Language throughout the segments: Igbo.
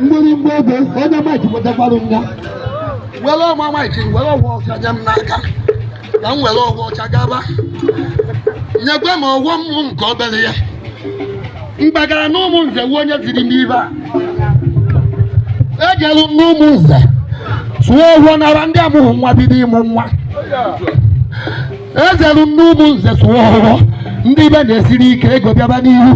mgbịrịmgba ebe onye maịkị wetakwara m ya were ọma maịkị were ọfọ ọcha nye m n'aka ka m were ọfọ ọcha gaba nyekwa m ọfọ mụ nke obere ya m gbagara na Ụmụnze wuo onye ziri m ibe a ejelu m n'Ụmụnze sụọ ọfọ nara ndị amụghị nwa bido ịmụ nwa ejelu m n'Ụmụnze sụọ ọfọ ndị ibe na-esiri ike ego bịaba n'ihu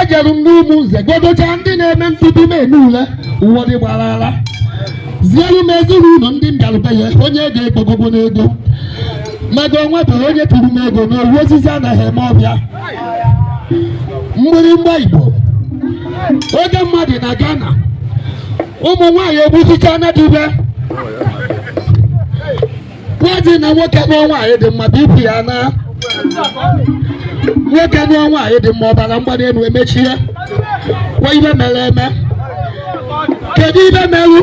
ejelu m n'Ụmụnze gọgọcha ndị na-eme ntutu m eme ule ụwa dị gbara ara zielu m ezinụlọ ndị m bịarube ya onye ego ekpogogo n'ego maka o nwebe onye tụrụ m ego na ọ wụ osisi anaghị eme ọbịa mgbịrịmgba igbo oke mmadụ na Ghana ụmụ nwaanyị egbusicha na dube nwazi na nwoke nụọ nwaanyị dị mma bụ ibu ya na nwoke nụọ nwaanyị dị mma ọbara mgbali elu emechie ya kwa ibe mere eme kedu ibe merụ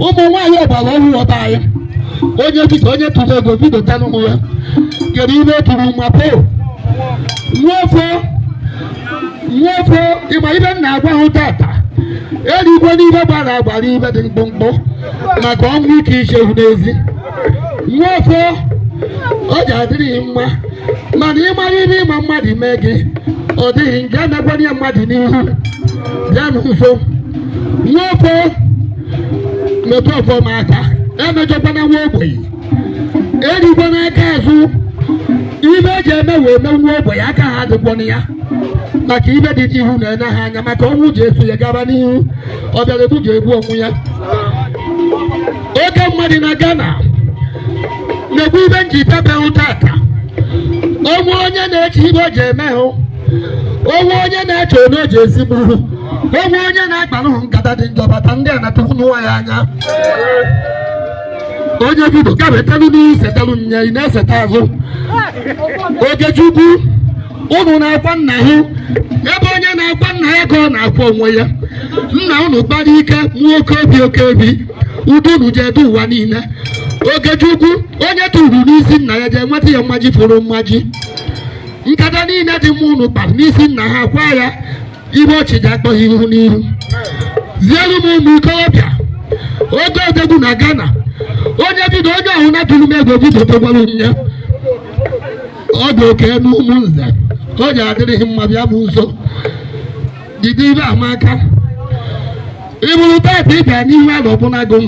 ụmụ nwaanyị ọgbara ọhụrụ ọba anyị onye dịka onye tụrụ ego bido tanụmụ ya kedu ibe o tụrụ nwa poo nwaofo nwaofo ị ma ibe m na-agwa hụ tata erikwana ibe gbara agbara ibe dị mkpụmkpụ maka ọnwụ ike ichewu n'ezi nwoke o ji adịrị ghị mma mana ị mara ibe ị ma mmadụ mee gị ọ dịghị nke emekwana ya mmadụ n'ihu bịa m nso nwoke metụ ọfọ m aka emejọkwana nwa ogbenye erikwana aka azụ ibe eji eme wee mee nwa ogbenye aka ha adịkwana ya maka ibe dị iche ihu na-enye ha anya maka ọnwụ ji eso ya gaba n'ihu ọ bịara egbu ji egbu onwe ya oke mmadụ na Ghana na-ekwu ibe m ji pepe ụta aka o nwe onye na-eche ibe o ji eme hụ o nwe onye na-eche onye o ji esi gbuo hụ o nwe onye na-akpara hụ nkata dị njọ bata ndị a na-atụkwunye nwa ya anya onye bido kama etelu n'isetelu nya ị na-eseta azụ Okechukwu ụnụ na-akwa nna hụ ebe onye na-akwa nna ya ka ọ na-akwa onwe ya nna ụnụ kpara ike mụọ oke obi oke obi udo unu ji edu ụwa niile Okechukwu onye tụrụ n'isi nna ya ji enweta ya mmaji fụrụ mmaji nkata niile dị mma ụnụ kpara n'isi nna ha kwa ya ibe ọchị ji akpọ hụ ihu n'ihu ziere m ụmụ ikorobịa oke odogwu na Ghana onye bido onye ahụ na-atụrụ m ego bido dogwara nya ọ dị oke n'Ụmụnze o ji adịrị ghị mma bịa m nso jide ibe amaka ị bụrụ taata ị bịa n'ihu ala ọbụnago m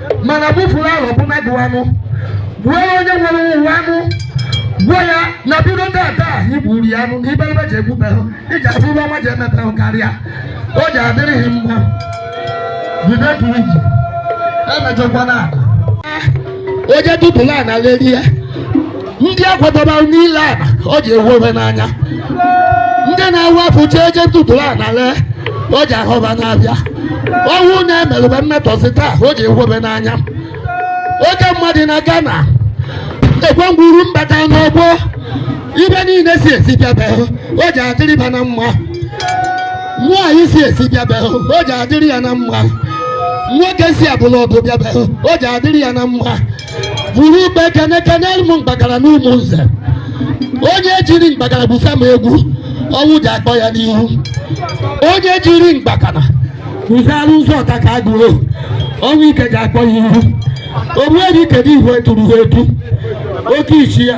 mana bụfuru ahụ ọbụna gụ anụ gbuo onye nwere ụwa anụ gbuo ya na bido tata anyị gburu ya anụ n'iberibe ji egbubehụ iji afụ ibe ọma ji emepehụ karịa ọjị adịrịghị mma jide ka iji emejọkwana ala ọjị dupụla na lerie ndị a kwadobara n'ile a ọjị ahụbe n'anya ndị na-awa afọ jee je ntụtụrụ a na lee ọjị ahụba n'abịa ọnwụ na-emerụba mmetọsị taa ọjị ahụbe n'anya oke mmadụ na-aga na ekwe ngwuru mbata n'ọgbọ ibe niile si esi bịabehụ ọjị adịrị ba na mma nwaanyị si esi bịabehụ ọjị adịrị ya na mma nwoke si abụla ọdụ bịabehụ ọjị adịrị ya na mma buru ube kene kenere m mgbakara na ụmụ nze onye jiri mgbakara busa m egwu ọnwụ ji akpọ ya n'ihu onye jiri mgbakara guzara ụzọ ọta ka agụrụ ọnwụ ike ji akpọ ya ihu ogbuefi kedu ihe eturu ha etu oke isi ya